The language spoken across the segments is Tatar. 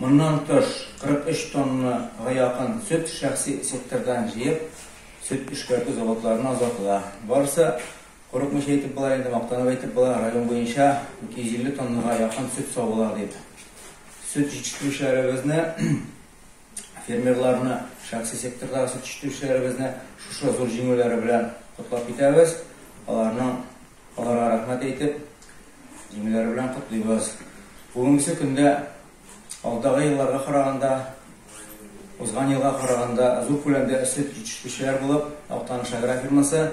Моннан тыш, 43 тоннага якын сөт шәхси сектордан җыеп, сөт эшкәртү заводларына озатыла. Барысы, курыкмыйча әйтеп була инде, мактанып әйтеп була, район буенча 250 тоннага якын сөт савыла, дип, сөт җитештерүчеләребезне, фермерларны, шәхси сектордагы сөт җитештерүчеләребезне шушы зур җиңүләре белән котлап китәбез, аларның Аларга рәхмәт әйтеп, җиңүләре белән котлыйбыз. Бүгенге көндә алдагы елларга караганда, узган елга караганда зур күләмдә сөт җитештерүчеләр булып, Актаныш агрофирмасы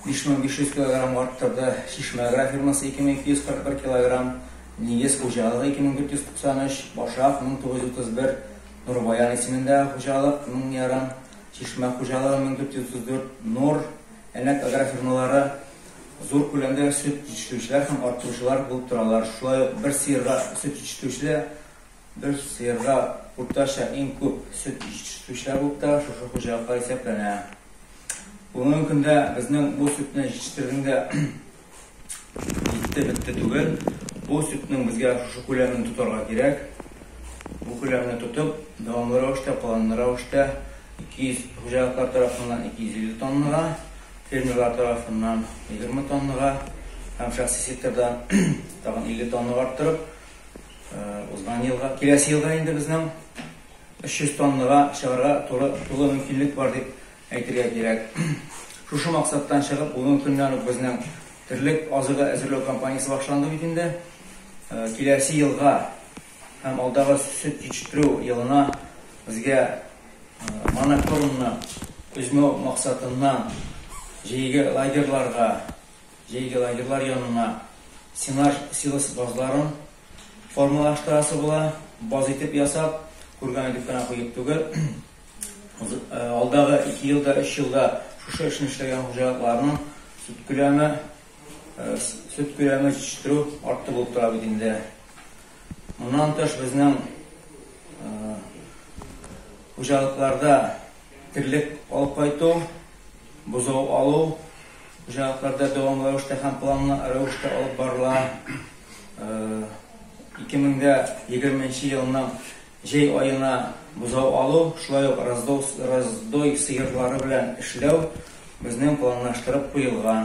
5500 килограмм арттырды, Чишмә агрофирмасы 2241 килограмм, Нигез хуҗалыгы 2493, Башак 1931, Нурбаян исемендә хуҗалык 1000 ярым, Чишмә хуҗалыгы 1434, Нур, Әлмәт агрофирмалары Зур күләмдә сөт җитештерүчеләр һәм арттыручылар булып торалар. Шулай ук бер сыерга сөт җитештерүчедә бер сыерга уртача иң күп сөт җитештерүчеләр булып та шушы хуҗалыклар исәпләнә. Бүгенге көндә безнең бу сөтне җитештерүнең дә җитте-бетте түгел. Бу сөтнең безгә шушы күләмен тотарга кирәк. Бу күләмне тотып, дәвамлы рәвештә, планлы рәвештә 200 хуҗалыклар тарафыннан 250 тоннага, Фермерлар тарафыннан егерме тоннага һәм шәхси секторда тагын илле тоннага арттырып, узган елга, киләсе елга инде безнең өч йөз тоннага чыгарга туры тулы мөмкинлек бар дип әйтергә кирәк. Шушы максаттан чыгып, бүгенге көннән үк безнең терлек азыгы әзерләү кампаниясе башланды бит инде. Киләсе елга Һәм алдагы сөт җитештерү елына безгә монокормны өзмәү максатыннан җәйге лагерьларга, җәйге лагерьлар янына сенаж силос базларын формалаштырасы була. Баз итеп ясап, курган итеп кенә куеп түгел. Алдагы ике елда, өч елда шушы эшне эшләгән хуҗалыкларның сөт күләме, Сөт күләме җитештерү артты булып тора бит инде. Моннан тыш безнең хуҗалыкларда терлек алып кайту, бозау алу хуҗалыкларда дәвамлы рәвештә һәм планлы рәвештә алып барыла. 2020 елның җәй аена бозау алу, шулай ук раздой сыерлары белән эшләү безнең планлаштырып куелган.